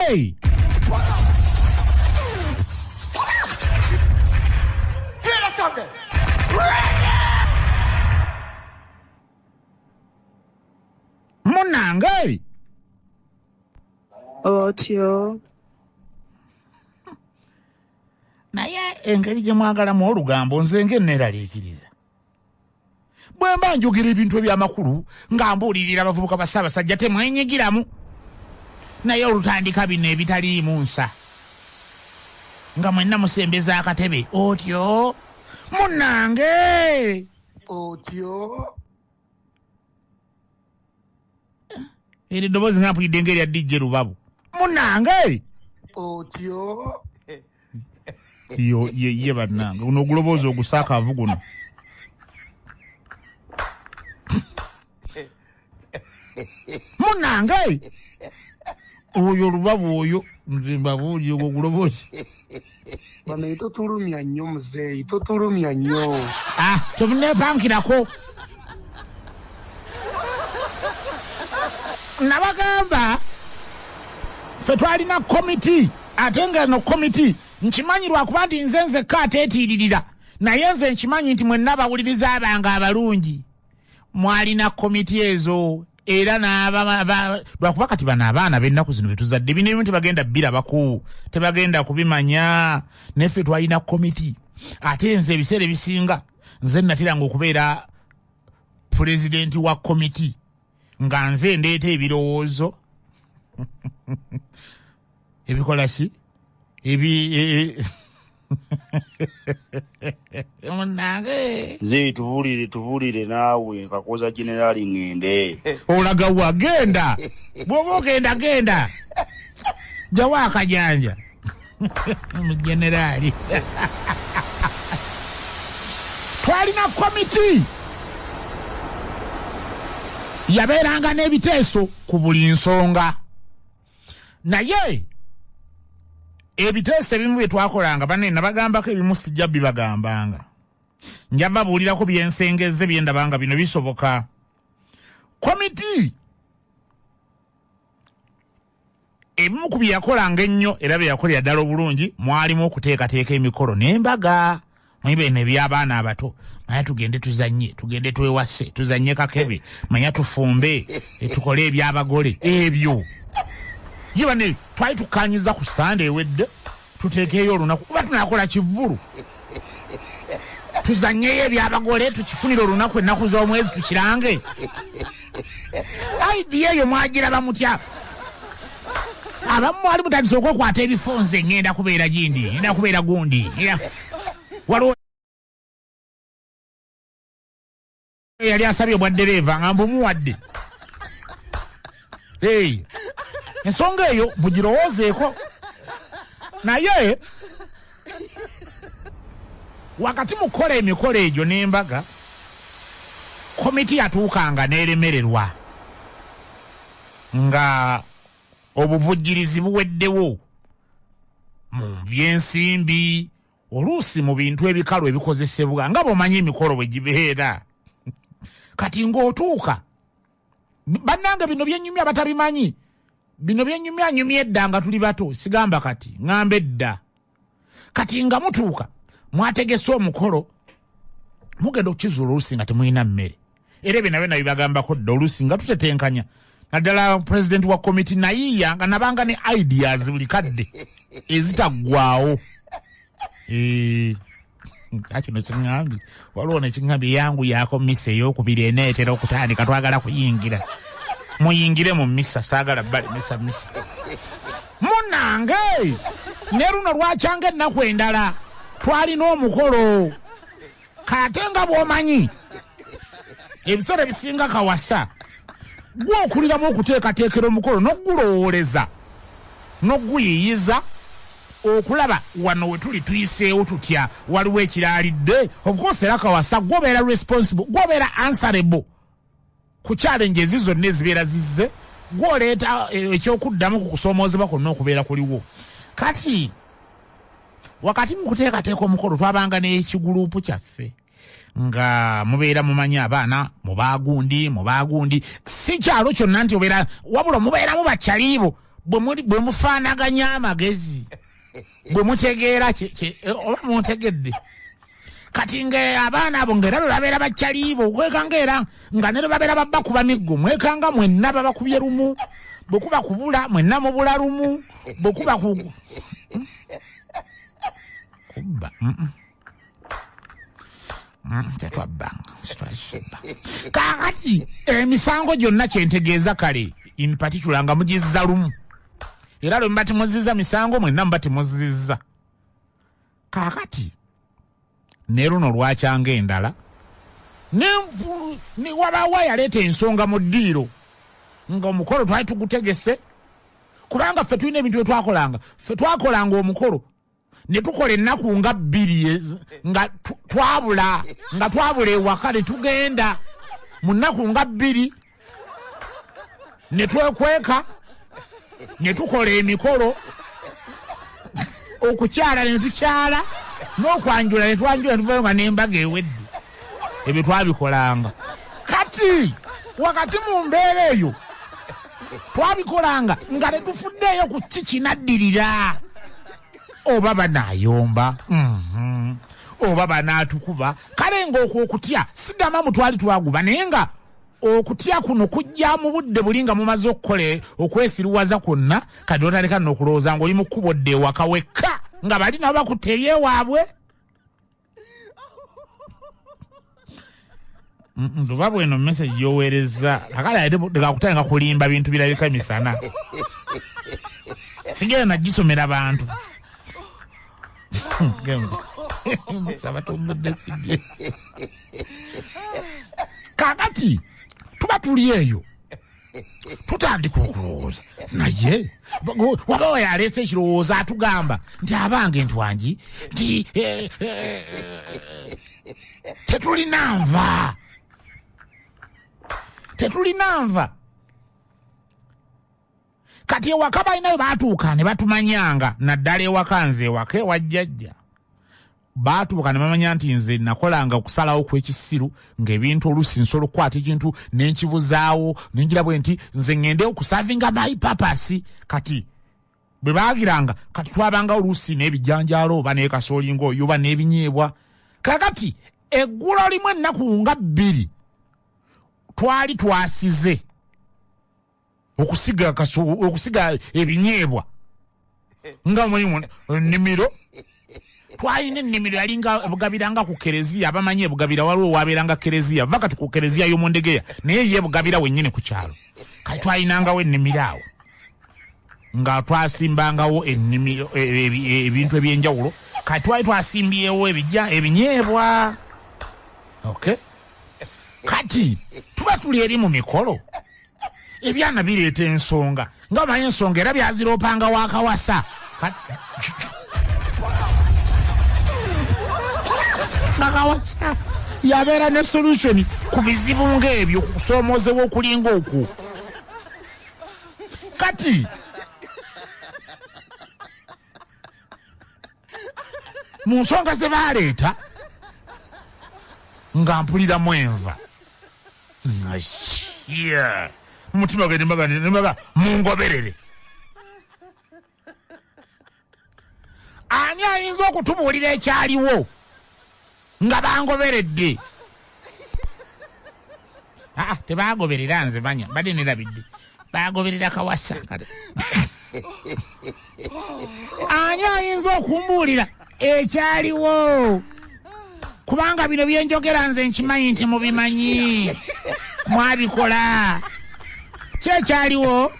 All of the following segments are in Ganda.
Hey! Munange! Otyo. naye engeri gye mwagalamu olugambo nze ng'enneeraliikiriza bwe mba njogera ebintu eby'amakulu nga mbuulirira abavubuka ba ssaabasajja temwenyigiramu naye olutandika bino ebitaliimu nsa nga mwenna musembeza akatebe otyo munnange otyo eri eddoboozi nga mpulidde nga erya dijje lubabu munange eri otyo yo ye ye bannange guno oguloboozi ogusakaavu guno munange oyo lubabu oyo mbabuuji ogwo gulobozi banaye totulumya nnyo muzeeyi totulumya nnyo ah, temunepankirako nabagamba fe twalina komiti ate nga no komiti nkimanyi lwakuba nti nze nzekka ateetiiririra naye nze nkimanyi nti mwenna abawuliriza abange abalungi mwalina komiti ezo era lwakuba kati bano abaana bennaku zino betuzadde bino ebimu tebagenda birabako tebagenda kubimanya naye ffe twalina komiti ate nze ebiseera ebisinga nze natiranga okubeera pulezidenti wa komiti nga nze ndeeta ebirowoozo ebikola ki ebi e, e, munange nze tubulire tubulire naawe nkakoza generali ngende olaga wa genda bwoba ogenda genda jawo akajanja mugenerali twalina komiti yabeeranga n'ebiteeso ku buli nsonga naye ebiteeso ebimu bye twakolanga banne nabagambako ebimu sijja bibagambanga nja babuulirako byensengezze bye ndaba nga bino bisoboka komiti ebimu ku bye yakolanga ennyo era bye yakolera ddala obulungi mwalimu okuteekateeka emikolo n'embaga manyi bene ebyabaana abato manya tugende tuzanye tugende twewase tuzanye kakebe manya tufumbe eh, tukole ebyabagole ebyo ye bane twali tukanyiza ku sande ewedde tutekeeyo olunaku kuba tunakola kivulu tuzanyeyo ebyabagole tukifunire olunaku ennaku z'omwezi tukirange idea eyo mwagiraba mutya abamu mwali mutandise okwekwata ebifo nze ngenda kubeera gindi ngenda kubeera gundi waliwo yali asabye obwa ddereeva nga mbumuwadde ensonga eyo mugirowoozeeko naye wakati mu kukola emikolo egyo n'embaga komiti yatuukanga n'eremererwa Nga obuvujjirizi buweddewo mu by'ensimbi, oluusi mu bintu ebikalu ebikozesebwa, nga bw'omanyi emikolo bwe gibeera, kati ng'otuuka, bannange bino bye nnyumya abatabimanyi, bino bye nnyumya nnyumya edda nga tuli bato, sigamba kati, ng'amba edda. kati nga mutuuka mwategese omukolo mugenda okukizuula oluusi nga temulina mmere era ebyo nabyo nabibagambako dda oluusi nga tutetenkanya naddala pulezidenti wa komiti nayiiya nga nabanga ne ideas buli kadde ezitaggwawo eh. kino kiŋambye waliwo nekiŋambye yangu yako misa eyokubiri eneetera okutandika twagala kuyingira muyingire mu misa saagala bali misa misa munange ne luno lwakyanga ennaku endala twalina omukolo kate nga bwomanyi ebiseera ebisinga kawasa gwe okuliramu okuteekateekera omukolo n'okugulowooleza n'okuguyiyiza Okulaba wano wetuli tuyiseewo tutya waliwo ekiraalidde of course era kawasa gwe obeera responsible gwe obeera answerable ku challenges zonna ezibeera zizze gwe oleeta eh, ekyokuddamu ku kusoomoozebwa kwonna okubeera kuliwo kati wakati mu kuteekateeka omukolo twabanga n'ekiguluupu kyaffe nga mubeera mumanyi abaana mubaagundi mubaagundi si kyalo kyonna nti obeera wabula mubeeramu bakyaliibo bwe mufaanaganya amagezi bwe mutegeera oba muntegedde kati nga abaana abo ngaera bwe babeera bakyaliibo kwekanga era nga nero babeera babba kuba miggo mwekanga mwenna babakubye lumu bwe kuba kubula mwenna mubula lumu bwe kuba kubba tetwabbanga sitwakibba kakati emisango gyonna kyentegeeza kale in particular nga mugizza lumu era lwe muba temuzizza misango mwenna muba temuzizza kakati ne luno lwakyanga endala wabaawo yaleeta ensonga mu ddiiro nga omukolo twali tugutegese kubanga ffe tulina ebintu bye twakolanga ffe twakolanga omukolo ne tukola ennaku nga bbiri nga twabula nga twabula ewaka ne tugenda mu nnaku nga bbiri ne twekweka ne tukola emikolo okukyala ne tukyala n'okwanjula ne twanjula ne tuvayo nga n'embaga ewedde ebyo twabikolanga kati wakati mu mbeera eyo twabikolanga nga tetufuddeeyo ku ki kinaddirira oba banaayomba mhm. oba banaatukuba kale ng'okwo okutya sigamba mu twali twaguba naye nga okutya kuno kujja mu budde buli nga mumaze okukola okwesiruwaza kwonna kati otaleka nokulowooza ngaoli mu kkubo dde ewaka wekka nga bali nabo bakutte ebyewaabwe luba bweno message yoweerezza akala tekakutanga kulimba bintu birabika misana sigenda nagisomera bantu kakati tuba tuli eyo tutandika okulowooza naye waba oyo aleese ekirowoozo atugamba nti abange ntwangi nti eh, eh, tetulina nva tetulina nva kati ewaka balinayo batuuka ne batumanyanga naddala ewaka nze ewaka ewajjajja baatubuka ne bamanya nti nze nakolanga okusalawo kw'ekisiru ng'ebintu oluusi nsobola okukwata ekintu ne nkibuzaawo ne ngira bwe nti nze ŋŋende okusavinga mayi papasi kati bwe baagiranga kati twabanga oluusi n'ebijanjaalo oba n'ekasoolinga oyo oba n'ebinyeebwa kakati eggulo limu ennaku nga bbiri twali twasize okusiga kasu okusiga ebinyeebwa nga mweyimu ennimiro twalina ennimiro yalinga bugabira nga ku kereziya abamanyi ebugabira waliwo wabeera nga kereziya va kati ku kereziya y'omundegeya naye ye bugabira wennyini ku kyalo kati twalinangawo ennimiro awo nga twasimbangawo ennimiro e, e, e, ebintu ebyenjawulo kati twali twasimbyewo ebija ebinyeebwa okay kati tuba tuli eri mu mikolo ebyana bireeta ensonga nga omanyi ensonga era byaziroopanga wakawasa nakawasa yabeera ne solution ku bizibu ngaebyo kukusoomoozebwa okulinga okwo kati mu nsonga ze baaleeta nga mpuliramu enva mumutima gwe nembaga mungoberere ani ayinza okutubuulira ekyaliwo Nga bangoberedde. Ah, ah tebangoberera nze manya mbadde nerabidde bagoberera kawasa kati ani ayinza okumbuulira ekyaliwo kubanga bino byenjogera nze nkimanyi nti mubimanyi mwabikola kyekyaliwo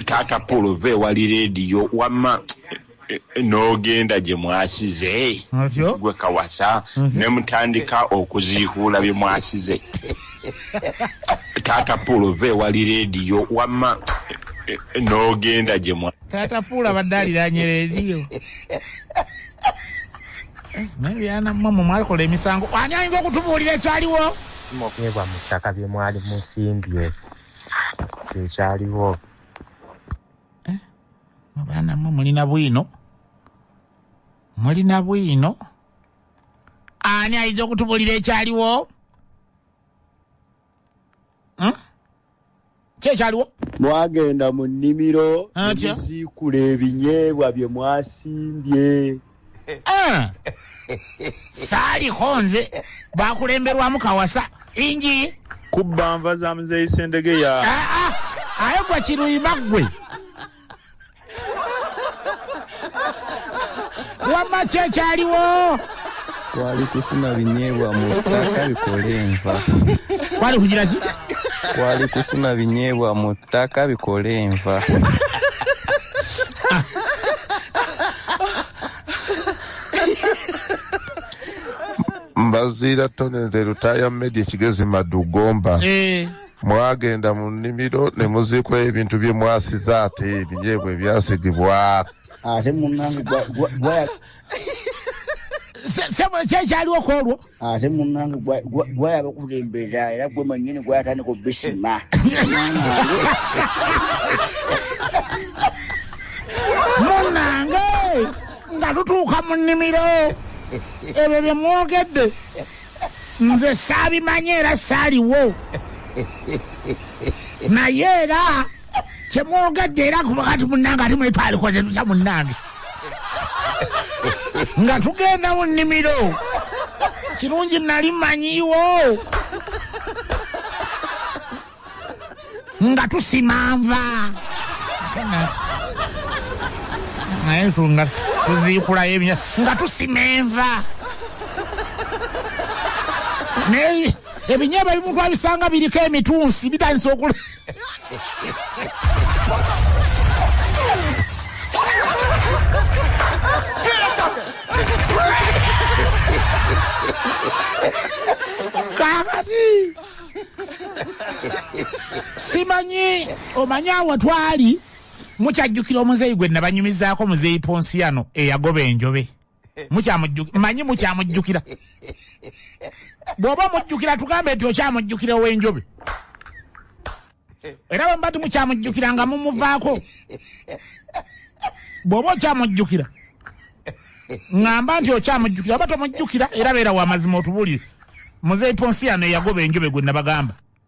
taata polo ve wali rediyo wama n'ogenda gye mwasize gwe kawasa ne mutandika okuziihuula bye mwasize taata puulu ova ewali leediyo wamma n'ogenda gye mwa taata puulu abadde aliranye leediyo naye byana mmwe mwe mwakola emisango ani ayinza okutubuulira ekyaliwo mukeebwa mu ttaka bye mwali musimbye kyekyaliwo abaana mwe mulina bwino mulina bwino ani ayinza okutubulira ekyaliwo hmm? kyekyaliwo mwagenda mu nnimiro nemuziikula ebinyeebwa bye mwasimbye saaliko nze bakulemberwamu kawasa ingi kubba nva za muzeeyi sendegeya ah, ah, aye gwa kiruyima ggwe wamma kyekyaliwo kwali kusima binyeebwa mu ttaka bikole enva kwali kugira ki kwali kusima binyeebwa mu ttaka bikole enva mbaziira tone nze lutaaya medi ekigezi madu gomba eh. mwagenda mu nnimiro ne muziikula ebintu bye mwasiza ate ebinyeebwa ebyasigibwa ate munange gwaya sebo kyekyaliwo kwolwo ate munange gwayaba okulembera era gwe manyini gwayatandika obisima munange nga tutuuka mu nnimiro ebyo bye mwogedde nze saabimanyi era saaliwo naye era kyemwogadde era kubakati munange ati mwetwalikoze tutya munange nga tugenda mu nnimiro kirungi nali manyiwo nga tusima nva naye nga tuziikulayo ebya nga tusima enva naye ebinyeba bimu twabisanga biriko emitunsi bitandisa okula kakati simanyi omanyi awo twali mukyajjukira omuzeeyi gwe nabanyumizaako muzeeyi ponsiyano eyagoba enjobe mukyamujjukira manyi mukyamujjukira bw'oba omujjukira tugambe nti okyamujjukira ow'enjobe era bwe mba timukyamujjukira nga mumuvaako bw'oba okyamujjukira ŋamba nti okyamujjukira oba tomujjukira era beera wamazima otubuulire muzeeyi ponsiano eyagoba enjobe gwe nabagamba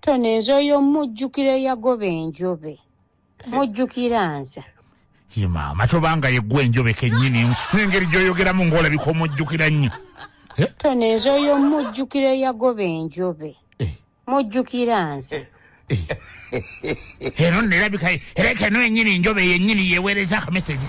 tone nze oyo mujjukira eyagoba enjobe mujjukira nze ye maama tobanga yeggwa enjobe kennyini n'engeri gy'oyogeramu ng'olabika omujjukira nnyo eh? tone nze oyo mujjukira eyagoba enjobe eh. mujjukira nze eh. eno nerabika era kano ennyini enjobe yennyini yeweereza akameseji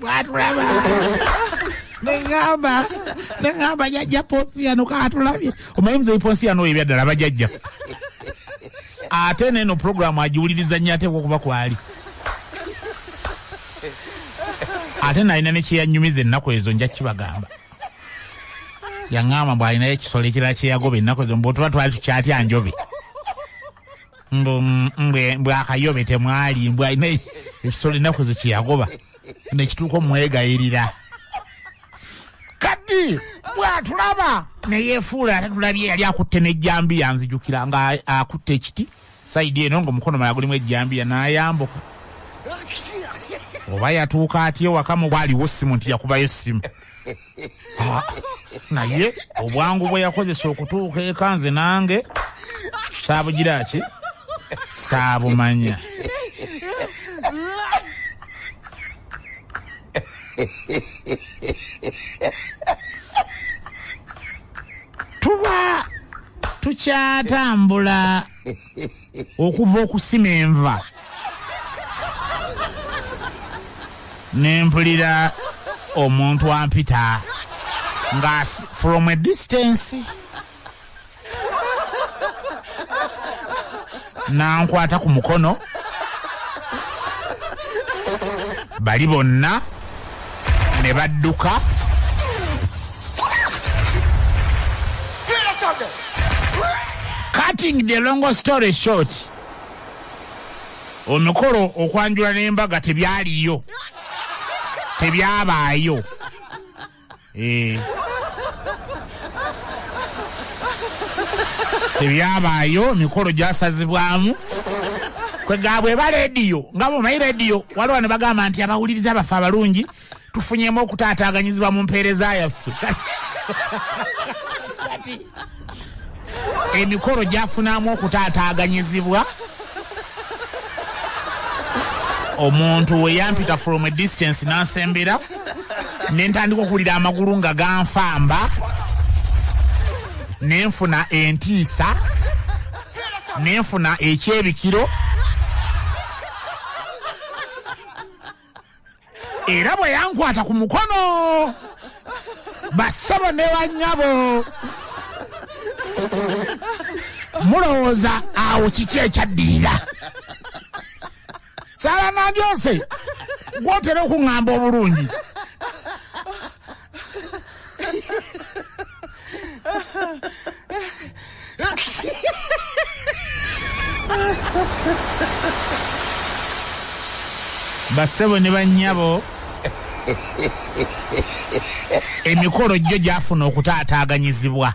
bwatulaba neŋamba neŋamba jajja ponsiano katulabye omanyi muzeyi ponsiano oyo ebyaddala bajajja ate neeno puroguramu agiwuliriza nnyo ateekwa okuba kwali ate nalina nekyeyanyumiza ennaku ezo nja kibagamba yaŋamba mbwalinayo ekisolo ekirala kyeyagoba ennaku ezo mbutuba twali tukyatya njobe mbu mbwe mbwe akayobe temwali mbwe alina ekisolo ennaku zekiyagoba nekituuka omwegayirira kati bwatulaba neyefuula ate tulabye yali akutte nejjambiya nzijukira nga akutte ekiti saidi eno nga omukono mala gulimu ejjambiya nayambuka oba yatuuka atya ewaka mu bwaliwo simu nti yakubayo simu ah, naye obwangu bwe yakozesa okutuuka eka nze nange saabugira ki saabumanya tuba tukyatambula okuva okusima enva nempulira omuntu ampita nga from a distance nankwata ku mukono bali bonna ne badduka cutting the long story short omukolo okwanjula n'embaga tebyaliyo tebyabaayo Eh. tebyabaayo emikolo gyasazibwamu kwegabwe eba rediyo nga bumanyi rediyo waliwo ne bagamba nti abawuliriza abaffe abalungi tufunyemu okutaataaganyizibwa mu mpeereza yaffe emikolo gyafunamu okutaataaganyizibwa omuntu weyampita from a distance nansembera nentandika okuwulira amagulu nga ganfamba nenfuna entiisa nenfuna ekyebikiro era bwe yankwata ku mukono bassebo ne bannyabo mulowooza awo kiki ekyaddirira sala nandyose gwotera okuŋŋamba obulungi bassebo ne bannyabo emikolo gyo gyafuna okutaataaganyizibwa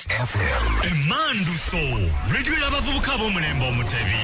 emmandu so rediyo y'abavubuka ab'omulembe omutebi